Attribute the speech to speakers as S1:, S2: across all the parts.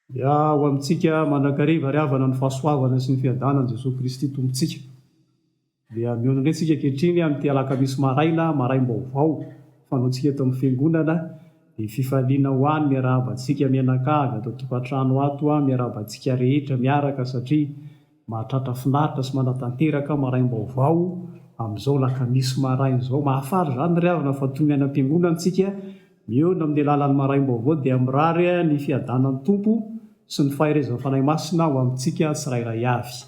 S1: Dia ho amintsika mandrakariva ary havana ny fahasoavana sy ny fiadanan'i Jesoa Kristy Tompontsika. Dia mihaona indray tsika ankehitriny amin'ity alakamisy maraina maraim-baovao fanaontsika eto amin'ny Fiangonana, dia fifaliana ho any miarahaba antsika mianakavy ato an-tokantrano ato, miarahaba antsika rehetra miaraka satria Mahatratra finaritra sy manatanteraka aho maraim-baovao amin'izao lakamisy maraina izao. Mahafaly izany ry havana fa toy ny any am-piangonana isika, mihaona amin'ny alalan'ny maraim-baovao dia mirary ny fiadanan'ny Tompo sy ny faherezan'ny Fanahy Masina ho amintsika tsirairay avy.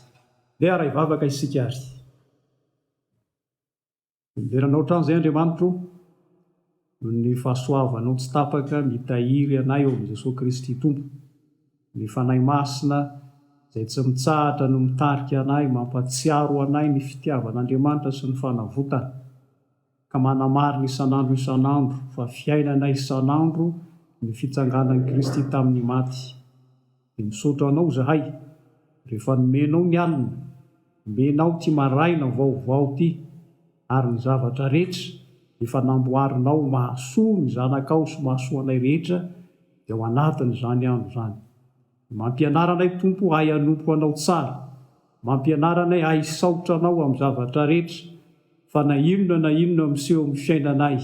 S1: Ndeha haray vavaka isika ary. Miverina anao hatrany izay Andriamanitro o, noho ny fahasoavanao tsy tapaka mitahiry anay eo amin'i Jesoa Kristy Tompo. Ny Fanahy Masina izay tsy mitsahatra no mitarika anay, mampatsiaro anay ny fitiavan'Andriamanitra sy ny fanavotany, ka manamarina isan'andro isan'andro fa fiainanay isan'andro ny fitsanganan'i Kristy tamin'ny maty. Dia misaotra anao zahay rehefa nomenao ny alina, omenao ty maraina vaovao ty ary ny zavatra rehetra efa namboarinao mahasoa ny zanakao sy mahasoa anay rehetra dia ao anatin zany andro zany. Mampianara anay Tompo ahay hanompo anao tsara, mampianara anay ahay hisaotra anao am zavatra rehetra fa na inona na inona miseho am fiainanay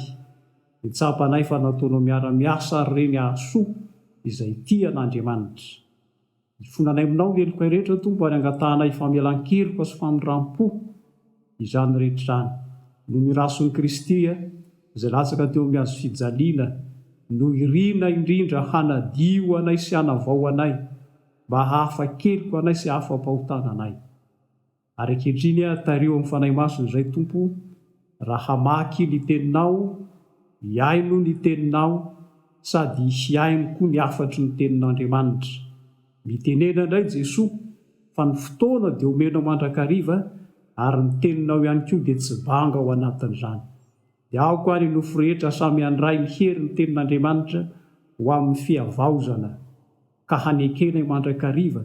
S1: dia tsapanay fa nataonao miara-miasa ary ireny hahasoa izay tia an'Andriamanitra. Ifonanay aminao ny helokay rehetra, Tompo, ary angatahanay famelan-keloka sy famindram-po izany rehetra izany, noho ny Rasin'i Kristy, izay latsaka teo amin'ny hazo fijaliana, no irina indrindra hanadio anay sy hanavao anay, mba hahafa-keloka anay sy hahafa-pahotana anay. Ary ankehitriny aho tario amin'ny Fanahy Masina izay, Tompo o, raha hamaky ny Teninao, hihaino ny Teninao, sady hihaino koa ny hafatry ny Tenin'Andriamanitra. Mitenena indray Jesoa fa ny fotoana dia omenao mandrakariva, ary ny Teninao ihany koa dia tsy banga ao anatin'izany. Dia aoka ary ny nofo rehetra samy handray ny herin'ny Tenin'Andriamanitra ho amin'ny fihavaozana. ka hanekenay mandrakariva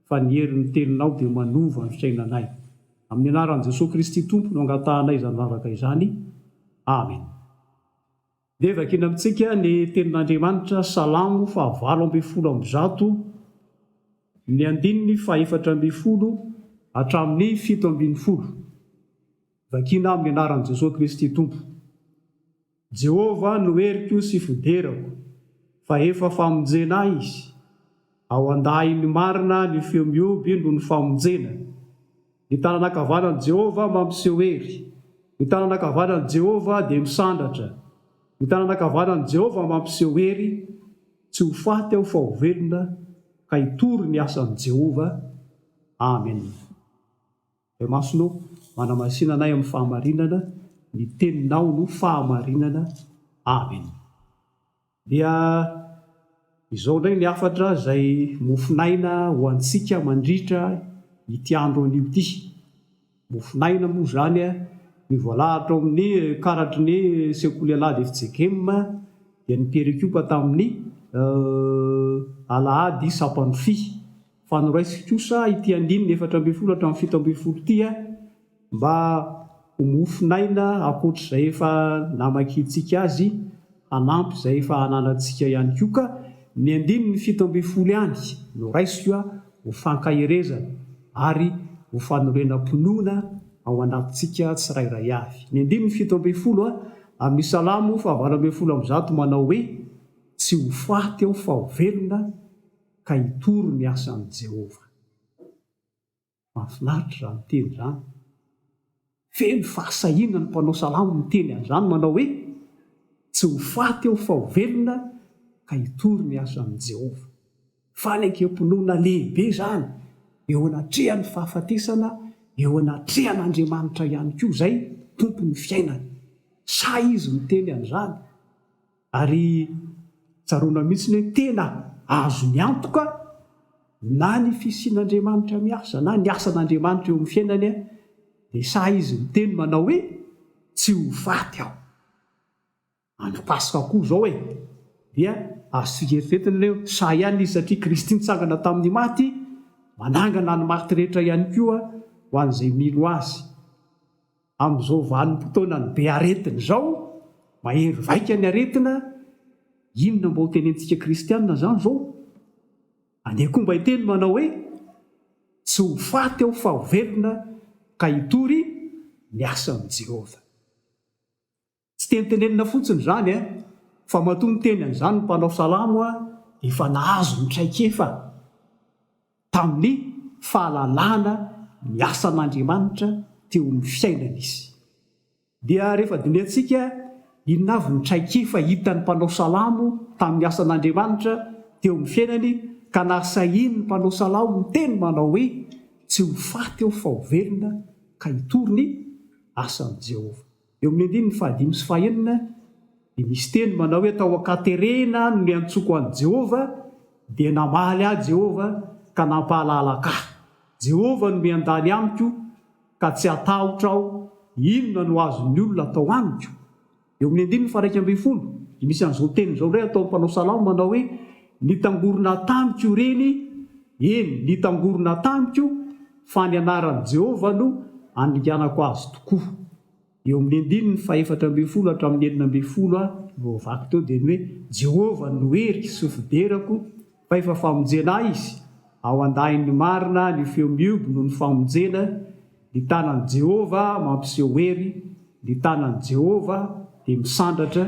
S1: fa ny herin'ny Teninao dia manova ny fiainanay. Amin'ny anaran'i Jesoa Kristy Tompo no angatahanay izany vavaka izany. Amen. Dia vakiana amintsika ny Tenin'Andriamanitra, Salamo fahavalo ambin'ny folo amby zato, ny andininy fahefatra ambin'ny folo hatramin'ny fito ambin'ny folo. Vakiana amin'ny anaran'i Jesoa Kristy Tompo. Jehovah no heriko sy fiderako, fa efa famonjena ahy izy. Ao an-dahiny marina ny feo mihoby noho ny famonjena. Ny tanana ankavanan'i Jehovah mampiseho hery. Ny tanana ankavanan'i Jehovah dia misandratra. Ny tanana ankavanan'i Jehovah mampiseho hery, Tsy ho faty aho fa ho velona, ka hitory ny asan'i Jehovah. Amena. Ray Masina ô, manamasina anay amin'ny fahamarinana, ny Teninao no fahamarinana. Amena. Dia izao indray ny hafatra izay mofon'aina ho antsika mandritra ity andro anio ity. Mofon'aina moa izany ny voalahatra ao amin'ny karatry ny Sekoly Alahady fjkm dia ny mpierikipa tamin'ny Alahady Sampanofy fa noraisiko kosa ity andininy efatra ambin'ny folo hatramin'ny fito ambin'ny folo ity mba ho mofon'aina ankoatr'izay efa namakintsika azy hanampy izay efa ananantsika ihany koa ka ny andininy fito ambin'ny folo ihany no raisiko ho fankaherezana ary ho fanorenam-pinoana ao anatintsika tsirairay avy. Ny andininy fito ambin'ny folo amin'ny Salamo fahavalo ambin'ny folo amby zato manao hoe, Tsy ho faty aho fa ho velona, ka hitory ny asan'i Jehovah. Mahafinaritra izany teny izany! Feno fahasahiana ny mpanao salamo miteny an'izany, manao hoe, Tsy ho faty aho fa ho velona, ka hitory ny asan'i Jehovah. Fanekempinoana lehibe izany, eo anatrehan'ny fahafatesana, eo anatrehan'Andriamanitra ihany koa izay, Tompon'ny fiainana. Sahy izy miteny an'izany. Ary tsaroana mihitsy ny hoe tena azony antoka na ny fisian'Andriamanitra miasa na ny asan'Andriamanitra eo amin'ny fiainany dia sahy izy miteny manao hoe, Tsy ho faty aho. Andro Paska koa izao e! Dia azontsika eritreretina ilay hoe sahy ihany izy satria Kristy nitsangana tamin'ny maty manangana ny maty rehetra ihany koa ho an'izay mino azy. Amin'izao vanim-potoanan'ny be aretina izao, mahery vaika ny aretina, inona mba ho tenentsika kristiana izany izao? Andeha koa mba hiteny manao hoe, Tsy ho faty aho fa ho velona ka hitory ny asan'i Jehovah. Tsy teny tenenina fotsiny izany eh, fa matoa niteny an'izany ny mpanao salamo ah dia efa nahazo ny traikefa tamin'ny fahalalana ny asan'Andriamanitra teo amin'ny fiainany izy. Dia rehefa dinihantsika inona avy ny traikefa hitan'ny mpanao salamo tamin'ny asan'Andriamanitra teo amin'ny fiainany ka nahasahiany ny mpanao salamo niteny manao hoe tsy ho faty aho fa ho velona ka hitory ny asan'i Jehovah. Eo amin'ny andininy fahadimy sy fahenina, dia misy teny manao hoe, Tao an-katerena no niantsoako an'i Jehovah, dia namaly ahy Jehovah, ka nampahalalaka ahy. Jehovah no miandany amiko, ka tsy hatahotra aho. Inona no azon'ny olona atao amiko? Eo amin'ny andininy faharaika ambin'ny folo, dia misy an'izao teny izao indray ataon'ny mpanao salamo manao hoe, Nitangorona tamiko ireny, eny, nitangorona tamiko, fa ny anaran'i Jehovah no handringanako azy tokoa. Eo amin'ny andininy fahefatra ambin'ny folo hatramin'ny enina ambin'ny folo voavaky teo dia ny hoe Jehovah no heriko sy fiderako, fa efa famonjena ahy izy, ao an-dahin'ny marina ny feo mihoby noho ny famonjena, Ny tanan'i Jehovah mampiseho hery, ny tanan'i Jehovah dia misandratra,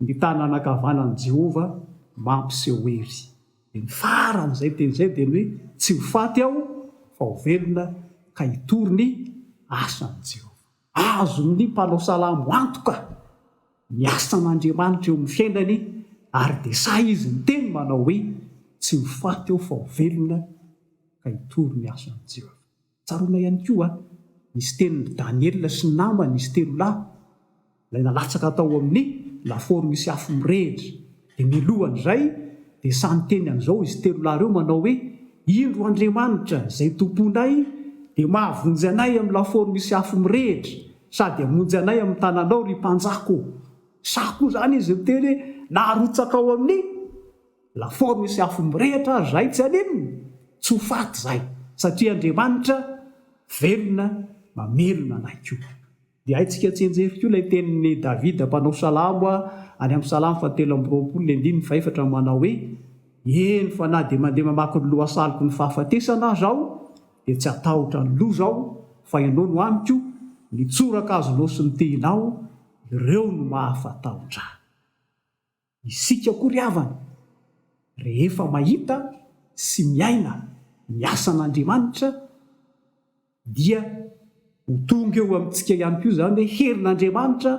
S1: ny tanana ankavanan'i Jehovah mampiseho hery. Dia ny faran'izay teny izay dia ny hoe, Tsy ho faty aho, fa ho velona, ka hitory ny asan'i Jehovah. Azon'ny mpanao salamo antoka ny asan'Andriamanitra eo amin'ny fiainany, ary dia sahy izy miteny manao hoe, Tsy ho faty aho, fa ho velona, ka hitory ny asan'i Jehovah. Tsaroana ihany koa ny sitenin'i Daniela sy ny namany, izy telo lahy, ilay nalatsaka tao amin'ny lafaoro misy afo mirehitra. Dia mialohan'izay, dia samy teny amin'izao izy telo lahy ireo manao hoe, Indro Andriamanitra, izay Tomponay, dia mahavonjy anay amin'ny lafaoro misy afo mirehitra, sady hamonjy anay amin'ny tananao, ry mpanjako. Sa koa izany izy miteny hoe, Narotsaka ao amin'ny. Lafaoro misy afo mirehitra ary zay tsy aninona, tsy ho faty zay satria Andriamanitra velona mamelona anay koa. Dia haintsika tsianjery koa ilay tenin'i Davida mpanao salamo any amin'ny Salamo fahatelo amby roapolo ny andininy fahefatra manao hoe, Eny fa na dia mandeha mamaky ny lohasaloko ny fahafatesana aza aho dia tsy hatahotra ny loza aho fa ianao no amiko, ny tsoraka azonao sy ny tehinao, ireo no mahafatahotra ahy. Isika koa ry havana, rehefa mahita sy miaina ny asan'Andriamanitra, dia ho tonga eo amintsika ihany koa izany hoe herin'Andriamanitra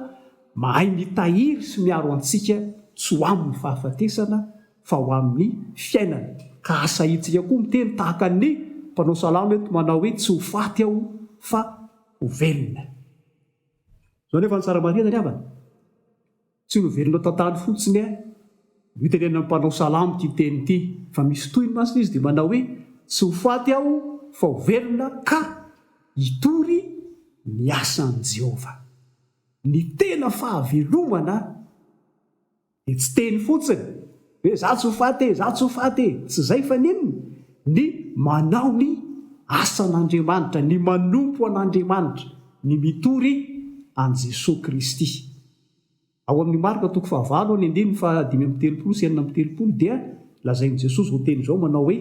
S1: mahay mitahiry sy miaro antsika tsy ho amin'ny fahafatesana fa ho amin'ny fiainana. Ka asahintsika koa miteny tahaka ny mpanao salamo eto manao hoe tsy ho faty aho fa ho velona. Izao anefa ny tsara marihana ry havana. Tsy novelono tantany fotsiny eh. Notenenan'ny mpanao salamo ity teny ity, fa misy tohiny masina izy dia manao hoe, tsy ho faty aho fa ho velona ka hitory ny asan'i Jehovah. Ny tena fahavelomana dia tsy teny fotsiny hoe izaho tsy ho faty e, izaho tsy ho faty e. Tsy izay fa n'inona? Ny manao ny asan'Andriamanitra, ny manompo an'Andriamanitra, ny mitory an'i Jesoa Kristy. Ao amin'ny Marka toko fahavalo ary ny andininy fahadimy amby telopolo sy enina amby telopolo dia lazain'i Jesosy ho teny izao manao hoe,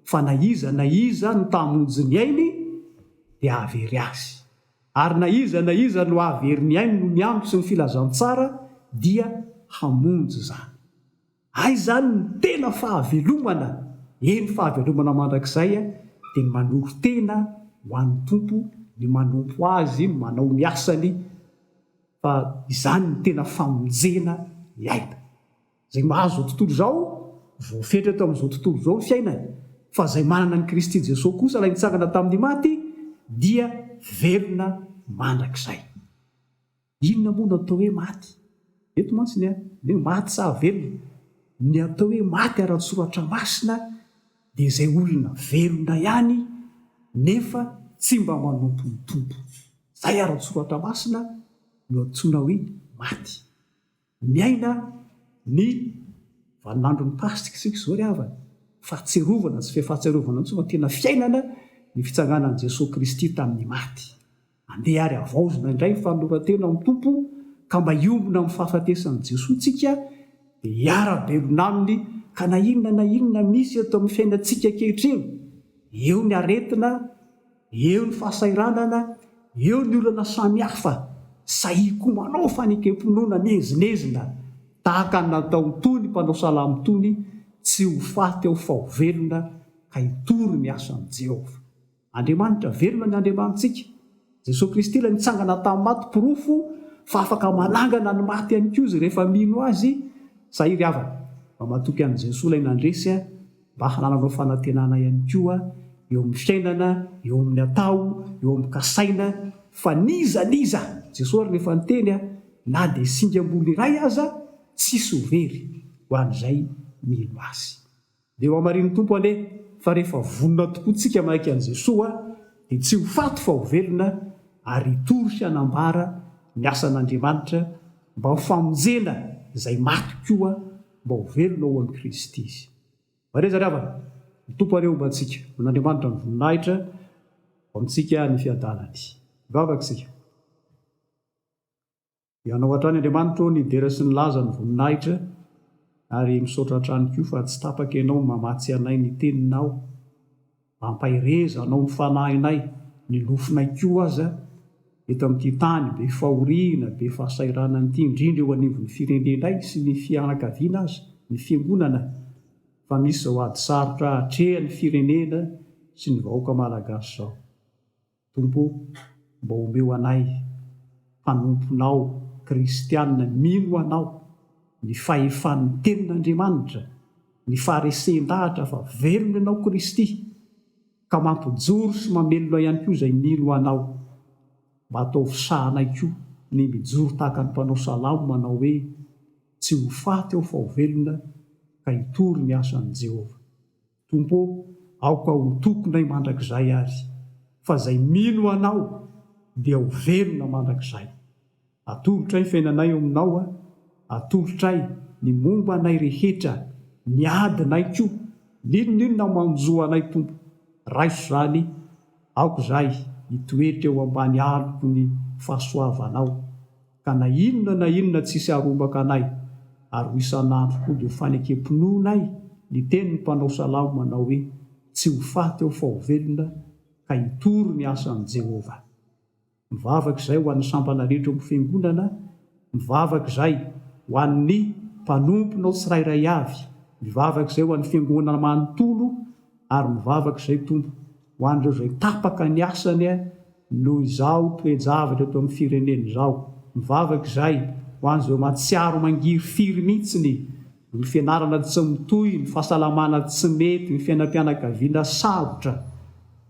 S1: Fa na iza na iza no ta hamonjy ny ainy dia hahavery azy, ary na iza na iza no hahavery ny ainy noho ny andro sy ny filazantsara dia hamonjy izany. Hay izany no tena fahavelomana, eny fahavelomana mandrakizay dia ny manoro-tena ho an'ny Tompo, ny manompo Azy, ny manao ny asany fa izany no tena famonjena ny aina. Izay mahazo izao tontolo izao, voafetra eto amin'izao tontolo izao ny fiainany fa izay manana an'i Kristy Jesoa kosa Ilay nitsangana tamin'ny maty dia velona mandrakizay. Inona moa no atao hoe maty? Eto mantsy ny hoe maty sa velona? Ny atao hoe maty ara-tsoratra masina dia izay olona velona ihany nefa tsy mba manompo ny Tompo. Izay ara-tsoratra masina no antsoina hoe maty. Miaina ny vaninandron'ny Paska isika izao ry havana. Fahatsiarovana, tsy fefahatsiarovana intsony fa tena fiainana ny fitsanganan'i Jesoa Kristy tamin'ny maty. Andeha ary havaozina indray ny fanoloran-tena amin'ny Tompo ka mba hiombona amin'ny fahafatesan'i Jesoa isika dia hiara-belona Aminy ka na inona na inona misy eto amin'ny fiainantsika ankehitriny, eo ny aretina, Eo ny fahasahiranana, eo ny olana samihafa, sahia koa manao fanekem-pinoana miezinezina tahaka ny nataony toy ny mpanao salamo tony, Tsy ho faty aho fa ho velona, ka hitory ny asan'i Jehovah. Andriamanitra velona ny Andriamanitsika. Jesoa Kristy ilay nitsangana tamin'ny maty porofo fa afaka manangana ny maty ihany koa izy rehefa mino Azy. Sahiry havana, mba matoky an'i Jesoa ilay nandresy a! mba hanananao fanantenana ihany koa eo amin'ny fiainana, eo amin'ny atao, eo amin'ny kasaina, fa n'iza n'iza, Jesoa ary no efa niteny, na dia singam-bolo iray aza, tsisy ho very ho an'izay mino Azy. Dia hohamarinin'ny Tompo anie fa rehefa vonona tokoa tsika manaiky an'i Jesoa dia tsy ho faty fa ho velona ary hitory sy hanambara ny asan'Andriamanitra mba ho famonjena izay maty koa, mba ho velona ho an'i Kristy izy. Mahereza ry havana, ny Tompo anie homba antsika, man'Andriamanitra ny voninahitra, ho amintsika ny fiadanany. Hivavaka isika. Hianao hatrany Andriamanitra ô ny dera sy ny laza ny voninahitra, ary misaotra hatrany koa fa tsy tapaka Ianao mamatsy anay ny Teninao. Ampaherezanao ny fanahinay, ny lofonay koa aza, eto amin'ity tany be fahoriana, be fahasahiranana ity, indrindra eo anivon'ny firenenay sy ny fianakaviana aza, ny fiangonana, fa misy izao ady sarotra atrehan'ny firenena sy ny vahoaka malagasy izao. Tompo o, mba omeo anay mpanomponao kristiana mino Anao ny fahefan'ny Tenin'Andriamanitra, ny faharesen-dahatra fa velona Ianao Kristy, ka mampijoro sy mamelona ihany koa izay mino Anao. Mba ataovy sahanay koa ny mijoro tahaka ny mpanao salamo manao hoe, Tsy ho faty aho fa ho velona, ka hitory ny asan'i Jehovah. Tompo ô, aoka ho tokonay mandrakizay azy, fa izay mino Anao dia ho velona mandrakizay. Atolotray ny fiainanay eo Aminao a, atolotray ny momba anay rehetra, ny adinay koa, n'inon'inona manjo anay Tompo, raiso izany, aoka izahay hitoetra eo ambany alok'ny fahasoavanao. ka na inona na inona tsisy arombaka anay, ary ho isan'andro koa dia ho fanekem-pinoanay ny tenin'ny mpanao salamo manao hoe, Tsy ho faty aho fa ho velona, ka hitory ny asan'i Jehovah. Mivavaka izay ho an'ny sampana rehetra eo amin'ny Fiangonana, mivavaka izay ho an'ny mpanomponao tsirairay avy, mivavaka izay ho an'ny Fiangonana manontolo, ary mivavaka izay, Tompo, Ho an'ireo izay tapaka ny asany noho izao toe-javatra eto amin'ny firenena izao, mivavaka izay ho an'izay mahatsiaro mangiry firy mihitsy ny noho ny fianarana tsy mitohy, ny fahasalamana tsy mety, ny fiainam-pianakaviana sarotra.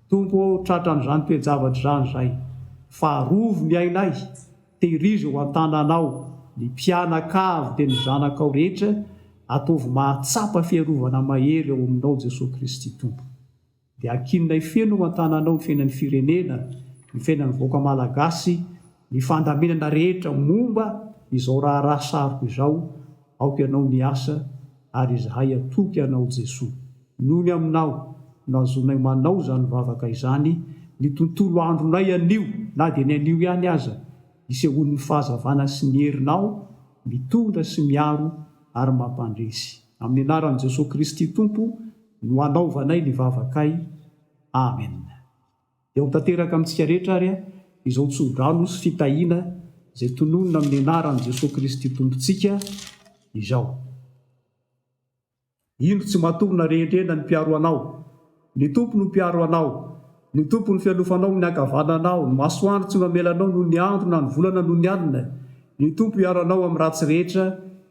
S1: Tompo ô, tratran'izany toe-javatra izany izay, fa arovy ny ainay, tehirizo ao an-tananao ny mpianakavy dia ny zanakao rehetra, ataovy mahatsapa fiarovana mahery ao aminao Jesoa Kristy Tompo. Dia ankininay feno eo an-tananao ny fiainan'ny firenena, ny fiainan'ny vahoaka malagasy, ny fandaminana rehetra momba izao raharaha sariko izao, aoka ianao miasa ary izahay hatoky anao Jesoa. Noho ny aminao no azonay manao izany vavaka izany, ny tontolo andronay anio na dia ny anio ihany aza, isehoan'ny fahazavana sy ny herinao mitondra sy miaro ary mampandresy. Amin'ny anaran'i Jesoa Kristy Tompo no hanaovanay ny vavakay. Amen. Dia ho tanteraka amintsika rehetra ary izao tso-drano sy fitahiana izay tononina amin'ny anaran'i Jesoa Kristy Tompontsika izao. Indro tsy matory na rehendrehena ny mpiaro anao. Ny Tompo no mpiaro anao. Ny Tompo no fialofanao amin'ny ankavananao, ny masoandro tsy mamela anao noho ny andro na ny volana noho ny alina. Ny Tompo hiaro anao amin'ny ratsy rehetra,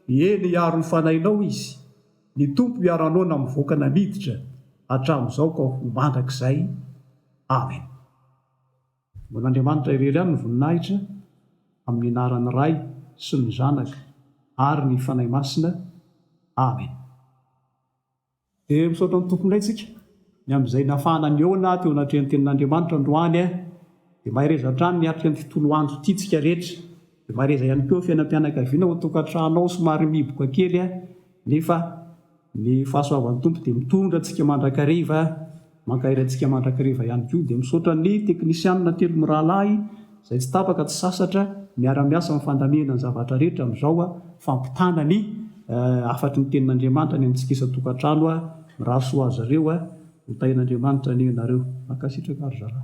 S1: eny hiaro ny fanahinao Izy. Ny Tompo hiaro anao na mivoaka na miditra hatramin'izao ka ho mandrakizay. Amen. Ho an'Andriamanitra irery ihany ny voninahitra, amin'ny anaran'ny Ray sy ny Zanaka ary ny Fanahy Masina. Amen. Dia misaotra ny Tompo indray tsika, ny amin'izay nafahana nihaona teo anatrehan'ny Tenin'Andriamanitra androany. Dia mahereza hatrany miatrika ny fitoloandro ity tsika rehetra. Mariheza ihany koa eo fiainam-pianakaviana ao an-tokantrano ao somary mihiboka kely nefa ny fahasoavan'ny Tompo dia mitondra antsika mandrakariva, mankahery antsika mandrakariva ihany koa. Dia misaotra ny teknisianina telo mirahalahy izay tsy tapaka tsy sasatra miara-miasa amin'ny fandamihana ny zavatra rehetra amin'izao fampitana ny hafatry ny tenin'Andriamanitra any amintsika isan-tokantrano. Mirary soa azy ireo. Ho tahian'Andriamanitra anie ianareo. Mankasitraka ry zalahy.